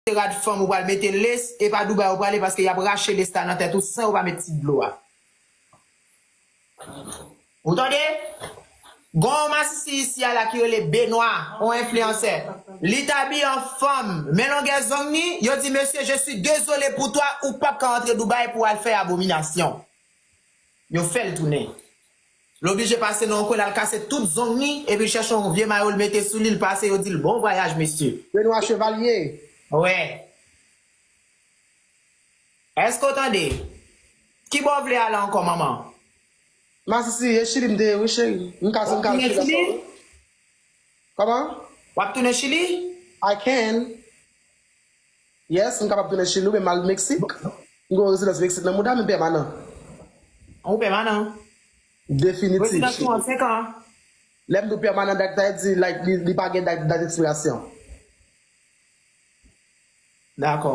Se rad fanm ou pral mete lace e pa Dubai ou prale paske yap rache lace la nan tèt ou san yo pa met ti dlo a. Ou tande? Gon yon masisi isi a la ki rele Benoît, yon enfliyansè. Li t abiye an fanm, men longè zong ni, yo di mesye je suis désolé pour toi ou pap ka antre Dubai pou al fè abominasyon. Yo fèl tounen. L oblije pase nan yon kwen l al kase tout zong li epi l chèche yon vye mayo l mete sou li l pase yo di l bon vwayaj mesye. Benoît Chevalier, Wè. Èske w tande? Ki bò w vle ale ankò manman? Masisi, E Chili m te ye wi cheri. M ka si m ka al Chili ankò wi. Kòman? W ap tounen Chili? I can. Yes, m kapab tounen chili wi men m al mexique. M gen yon rezidans mexique nan mouda m, m pèmanan. Ou pèmanan? Definitif chili. Rezidans ou an 5 an? Lè m di w pèmanan dat sa vle di like li pa gen dat ekspirasyon. Dakò.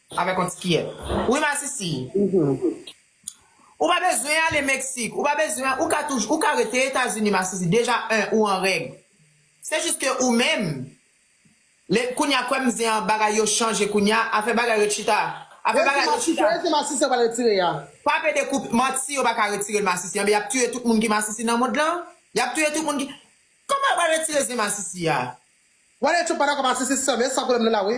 Avèk yon ti kiyè. Wi masisi. Ou pa bezwen ale Mexique. Ou pa bezwen, ou ka toujou, ou ka rete Etazini masisi. Deja 1 ou an règ. Se jis ke ou menm, le, kounya kwèm zen an bagay yo chanje kounya, afè bagay yo chita. Afè bagay yo chita. Wè se masisi, wè se masisi yo pral retire ya. Pa pede koup, manti yo pa ka retirel masisi anben yap tiye tout moun ki masisi nan mond lan, yap touye tout moun ki, kòman yo pral retire zen masisi ya. Wale trump pa dakò masisi sèm e san pwoblèm li la wi.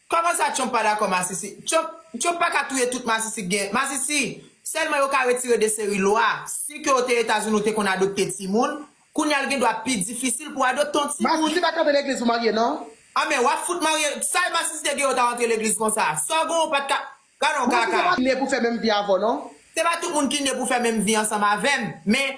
Kòman sa Trump pa dakò masisi? Trump Trump pa ka touye tout masisi k gen masisi sèlman yo ka retire de seri lwa si ke w te etazini w te konn adopte timoun kounya l gen dwa pi difisil pou adopte yon timoun. Masisi pa k antre legliz pou marye nan. An men wap fout marye sa masisi te gen yo ta antre legliz konsa sa w gen w pat ka gadon Masisi kaka. pa ne pou fè menm vi avè w non. Se pa tout moun ki ne pou fè menm vi ansanm avè m men